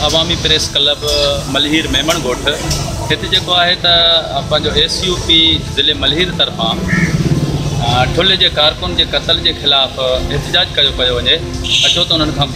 عوامي press club Malir Memon ڳوٺ هت جيڪو آهي ته پنهنجو ايس يو پي ضلع ملهير طرفان ٺلهي جي ڪارڪن جي قتل جي خلاف احتجاج ڪيو پيو وڃي اچو ته انهن کان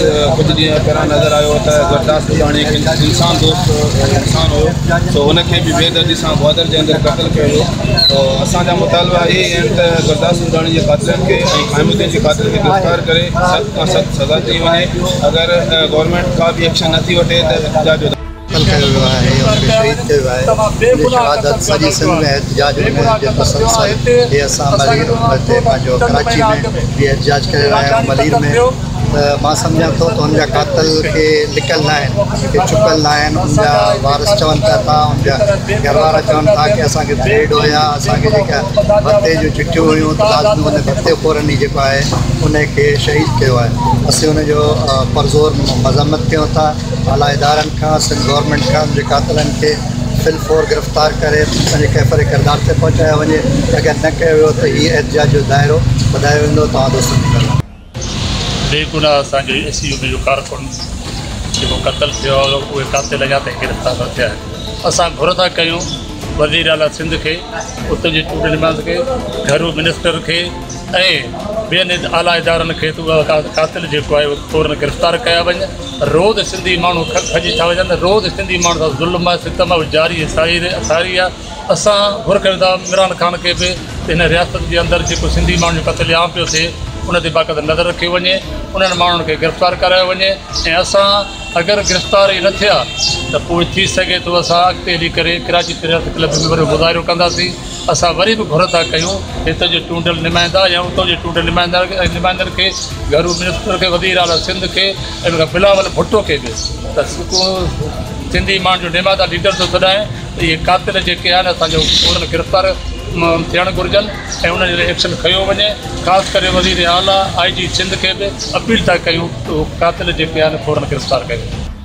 ڪجهه ڏينهن پهريان نظر آيو ته گروداس ٻڌاڻي هڪ انسان دوست انسان هيو سو هن کي به بي دردي سان گوادر جي اندر قتل ڪيو ويو سو اسان جا مطالبا اهي ئي آهن ته گروداس ٻڌاڻي جي قاتلن کي ۽ خائن الدين جي قاتل کي گرفتار ڪري سخت کان سخت سزا ڏني وڃي اگر گورنمينٽ ڪا به ايڪشن نٿي وٺي ته احتجاج قتل ڪيو ويو آهي يا ان کي شهيد ڪيو ويو آهي ان جي شهادت سڄي سنڌ ۾ احتجاج ۾ ملڻ جي پسند سان هي اسان ملير عمل تي پنهنجو ڪراچي ۾ به احتجاج ڪري رهيا آهيون ملير ۾ ته مان سمجهان ٿو ته ان جا قاتل ڪي لڪل نه آهن ڪي ڇپيل نه آهن ان جا وارث چون پيا ٿا ان جا گهروارا چون ٿا ڪي اسان کي ٿريڊ هيا اسان کي جيڪا ڀتي جون چٺيون هيون ته لازمي ان ڀتي خورن ئي جيڪو آهي ان کي شهيد ڪيو آهي اسين ان جو پرزور مذمت ڪيون ٿا اعليٰ ادارن کان سنڌ گورنمينٽ کان انهن جي قاتلن کي في الفور گرفتار ڪري پنهنجي ڪيفر ڪردار تي پهچايو وڃي اگر نه ڪيو ويو ته هي احتجاج جو دائرو وڌايو ويندو توهان دوستن کي ڪرڻو بي گناهه اسان جي ايس يو بي جو ڪارڪن جيڪو قتل ٿيو آهي اهي قاتل اڃا تائين گرفتار نه ٿيا آهن اسان گهر ٿا ڪيون وزيراعليٰ سنڌ کي اتي جي چونڊيل نمائندن کي گهرو منسٽر کي ۽ ٻين اعليٰ ادارن کي ته اهو قاتل جيڪو آهي اهو فوراً گرفتار ڪيا وڃن روز سنڌي ماڻهو کڄي ٿا وڃن روز سنڌي ماڻهو سان ظلم آهي ستم آهي جاري ۽ ساري ساري آهي اسان گهر ڪريو ٿا عمران خان کي به هن رياست جي اندر جيڪو سنڌي ماڻهن جو قتل عام پيو ٿئي ان تي باقاعده نظر رکيو وڃي انهن ماڻهن کي گرفتار ڪرايو وڃي ۽ اسان اگر گرفتار ئي نه ٿيا ته پوء ٿي سگهي ٿو اسان اڳتي هلي ڪري ڪراچي پريس ڪلب ۾ وڏو مظاهرو ڪنداسين اسان وري به گهر ٿا ڪيون هتي جي چونڊيل نمائندا يا اتو جي چونڊيل نمائندن کي گهرو منسٽر کي وزير اعليٰ سنڌ کي ۽ ان کان بلاول ڀٽو کي به ته ڪو سنڌي ماڻهن جو نمائندا ليڊر ٿو سڏائين ته اهي قاتل جيڪي آهن اسان جو فورن گرفتار ٿيڻ گهرجن ۽ انهن جي لاء ايڪشن کنيو وڃي خاص ڪري وزير اعليٰ آء جي سنڌ کي به اپيل ٿا ڪيون ته اهي قاتل جيڪي آهن فورن گرفتار ڪيون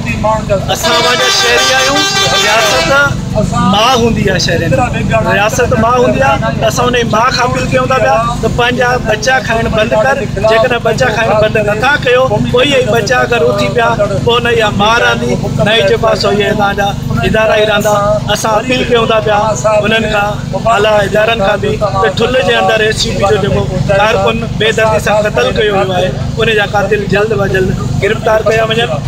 اسان وانگر شهري آهيون رياست ماء هوندي آهي شهرين جي رياست ماء هوندي آهي ته اسان ان جي ماء کان اپيل ڪيون ٿا پيا ته پنهنجا ٻچا کائڻ بند ڪر جيڪڏهن ٻچا کائڻ بند نٿا ڪيو پوء اهي ٻچا اگر اٿي پيا پوء نه اها ماء رهندي نه ئي جيڪو سو اهي هتان جا ادارا ئي رهندا اسان اپيل ڪيون ٿا پيا انهن کان اعليٰ ادارن کان به ته ٺل جي اندر ايس يو پي جو جيڪو ڪارڪن بي دردي سان قتل ڪيو ويو آهي ان جا قاتل جلد و جلد گرفتار ڪيا وڃن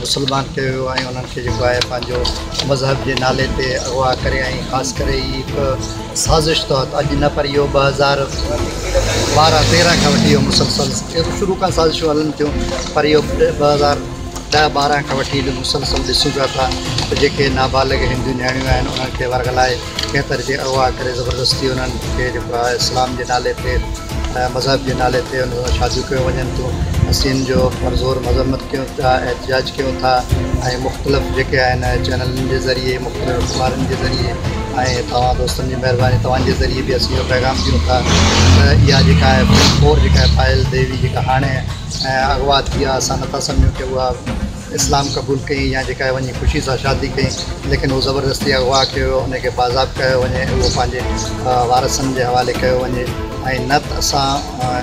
مسلمان ڪيو ويو ۽ انهن کي جيڪو آهي پنهنجو مذهب جي نالي تي اغوا ڪري ۽ خاص ڪري هي هڪ سازش تحت اڄ نه پر اهو ٻه هزار ٻارهن تيرهن کان وٺي اهو مسلسل شروع کان سازشون هلن ٿيون پر اهو ٻه هزار ڏهه ٻارهن کان وٺي مسلسل ڏسون پيا ٿا ته جيڪي نابالغ هندو نياڻيون آهن انهن کي ورغلائي کيتر کي اغوا ڪري زبردستي انهن کي جيڪو آهي اسلام جي نالي تي ۽ مذهب جي نالي تي انهن سان شاديون ڪيون وڃن ٿيون اسين جو پرزور مذمت ڪيون ٿا احتجاج ڪيون ٿا ۽ مختلف جيڪي آهن چينلن جي ذريعي مختلف اخبارن جي ذريعي ۽ توهان دوستن جي مهرباني توهان جي ذريعي به اسين اهو پيغام ڏيون ٿا ته اها جيڪا آهي پوري جيڪا آهي پائل ديوي جيڪا هاڻي اغوا ٿي آهي اسان نٿا سمجهون ڪي اها اسلام قبول ڪيئي يا جيڪا وڃي خوشي سان شادي ڪيئي ليڪن هو زبردستي اغوا ڪيو ويو ان کي بازاب ڪيو وڃي اهو پنهنجي وارثن جي حوالي ڪيو وڃي ۽ نه ته اسان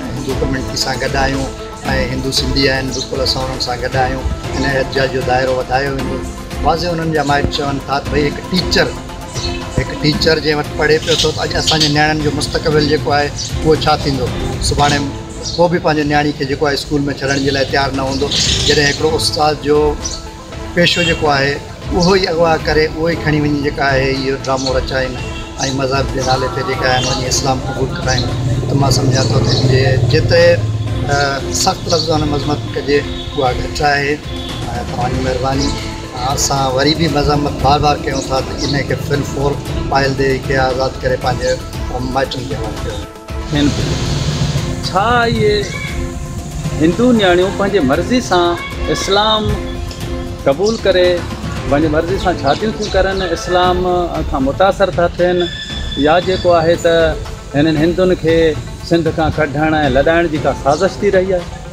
هندو ڪميونٽي سان گڏ آهيون ۽ هندو سنڌي آهن بلڪل اسان انهن سان گڏ آهيون ان احتجاج جو دائرو وڌايو ويندو واضح انهن جا مائٽ چون ٿا ته ڀئي هڪ ٽيچر هڪ ٽيچر جنهن وٽ پڙهي پيو ٿو ته اڄ اسان جي نياڻين جو مستقبل جيڪو آهي اهو ڇا ٿيندو سڀاڻي ڪو به پنهنجي نياڻي کي جيڪو آهي اسڪول ۾ ڇڏڻ جي لاء تيار نه هوندو جڏهن هڪڙو استاد جو پيشو جيڪو آهي اهو ئي اغوا ڪري اهو ئي کڻي وڃي جيڪا آهي اهو ڊرامو رچائين ۽ مذهب جي نالي تي جيڪا آهن وڃي اسلام قبول ڪرائين ته مان سمجهان ٿو ته جي جيتري سخت لفظان ۾ مذمت ڪجي اها گهٽ آهي ۽ توهان جي مهرباني اسان وري به مذمت بار بار ڪيون ٿا ته ان کي فل فور پايل ديوي کي آزاد ڪري پنهنجي مائٽن کي حوالي ڪيو ٿين پيون. ڇا اهي هندو نياڻيون پنهنجي مرضي سان اسلام قبول ڪري پنهنجي مرضي سان شاديون ٿيون ڪرن، اسلام کان متاثر ٿا ٿين يا جيڪو آهي ته هنن هندن کي سنڌ کان ڪڍڻ ۽ لڏائڻ جي ڪا سازش ٿي رهي آهي؟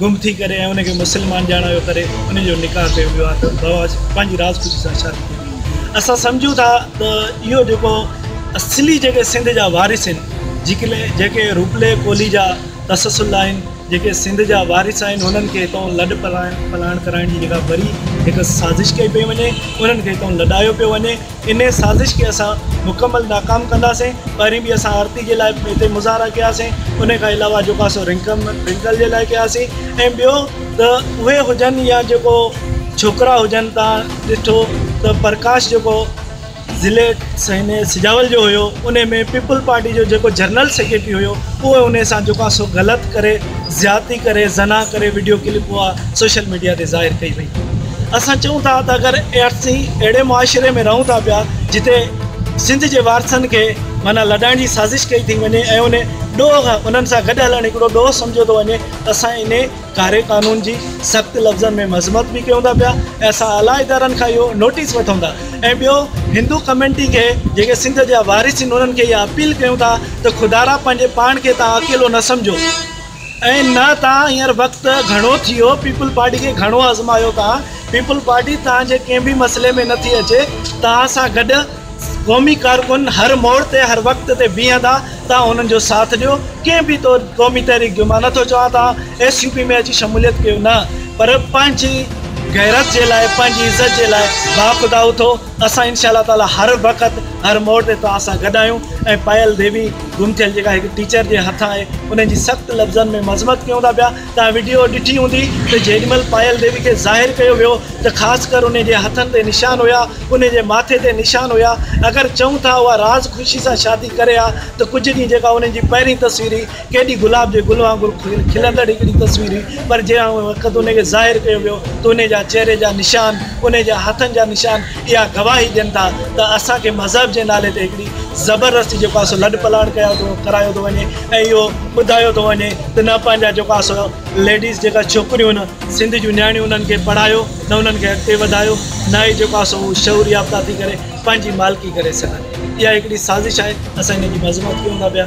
گم ٿي ڪري ۽ ان کي مسلمان ڄاڻايو ڪري ان جو نڪاح ڪيو ويو آهي ته بابا جي پنهنجي راجپوتي سان شادي ڪئي وئي هئي اسان سمجهون ٿا ته اهو جيڪو اصلي جيڪي سنڌ جا وارث آهن جيڪي لي جيڪي روپلي ڪولهي جا تسلسل آهن جيڪي سنڌ جا وارث آهن انهن کي هتون لڏ پلاڻ پلاڻ ڪرائڻ جي جيڪا وري هڪ سازش ڪئي پئي وڃي انهن کي هتون لڏايو پيو وڃي انهيء سازش کي اسان مڪمل ناڪام ڪنداسين. پهرين به اسان آرتي جي لاء هتي مظاهرا ڪياسين، انهيء کان علاوه جو ڪاسو رنڪل جي لاء ڪياسين ۽ ٻيو ته اهي هجن يا جيڪو ڇوڪرا هجن تان ڏٺو ته پرڪاش جيڪو ضلعي سنهي سجاول جو هيو انهي ۾ پيپلز پارٽي جو جيڪو جنرل سيڪريٽري هيو اهو انهي سان جو ڪاسو غلط ڪري زيادتي ڪري زنا ڪري وڊيو ڪلپ اها سوشل ميڊيا تي ظاهر ڪئي وئي. اسان چئون ٿا ته اگر اسين اهڙي معاشري ۾ رهون ٿا پيا جتي سنڌ جي وارثن کي معنيٰ لڏائڻ جي سازش ڪئي ٿي وڃي ۽ ان ڏوهه انهن سان گڏ هلڻ هڪڙو ڏوهه سمجهيو ٿو وڃي ته اسان انهي ڪاري قانون جي سخت لفظن ۾ مذمت به ڪيون ٿا پيا ۽ اسان اعليٰ ادارن کان اهو نوٽيس وٺون ٿا ۽ ٻيو هندو ڪميونٽي کي جيڪي سنڌ جا وارث آهن انهن کي اها اپيل ڪيون ٿا ته خدارا پنهنجي پاڻ کي توهان اڪيلو نه سمجهو ائين نه توهان هينئر وقت گهڻو ٿيو پيپلز پارٽي کي گهڻو آزمايو توهان پيپلز پارٽي توهان جي ڪنهن به مسئلي ۾ نٿي اچي توهان سان گڏ قومي ڪارڪن هر موڙ تي هر وقت تي بيهندا توهان انهن جو ساٿ ڏيو ڪنهن به طور قومي تحريڪ جو مان نٿو چوان توهان ايس يو پي ۾ اچي شموليت ڪيو نه پر پنهنجي غيرت جي لاء پنهنجي عزت جي لاء باخدا اٿو اسان انشاء الله تعالٰي هر وقت هر موڙ تي توهان سان گڏ آهيون ۽ پايل ديوي گمٿيل جيڪا هڪ ٽيچر جي هٿان آهي انهن جي سخت لفظن ۾ مذمت ڪيون ٿا پيا توهان وڊيو ڏٺي هوندي ته جيڏي مهل پايل ديوي کي ظاهر ڪيو ويو ته خاص ڪر انهن جي هٿن تي نشان هيا انهن جي ماٿي تي نشان هيا اگر چئون ٿا اها راز خوشي سان شادي ڪري ها ته ڪجهه ڏينهن جيڪا انهن جي پهرين تصويري ڪيڏي گلاب جي گل وانگر کلندڙ هڪڙي تصوير هئي، پر جنهن هن وقت ان کي ظاهر ڪيو ويو ته ان جا چهري جا نشان، ان جي هٿن جا نشان اها گواهي ڏين ٿا ته اسان کي مذهب جي نالي تي هڪڙي زبردستي جيڪو آهي سو لڏپلاڻ ڪيو ٿو ڪرايو ٿو وڃي ۽ اهو ٻڌايو ٿو وڃي ته نه پنهنجا جيڪو آهي سو ليڊيز جيڪا ڇوڪريون هن سنڌ جون نياڻيون انهن کي پڙهايو نه انهن کي اڳتي وڌايو نه ئي جيڪو آهي سو هو شعور يافته ٿي ڪري پنهنجي مالڪي ڪري سگهن اها هڪڙي سازش آهي اسان ان جي مذمت ڪيون ٿا پيا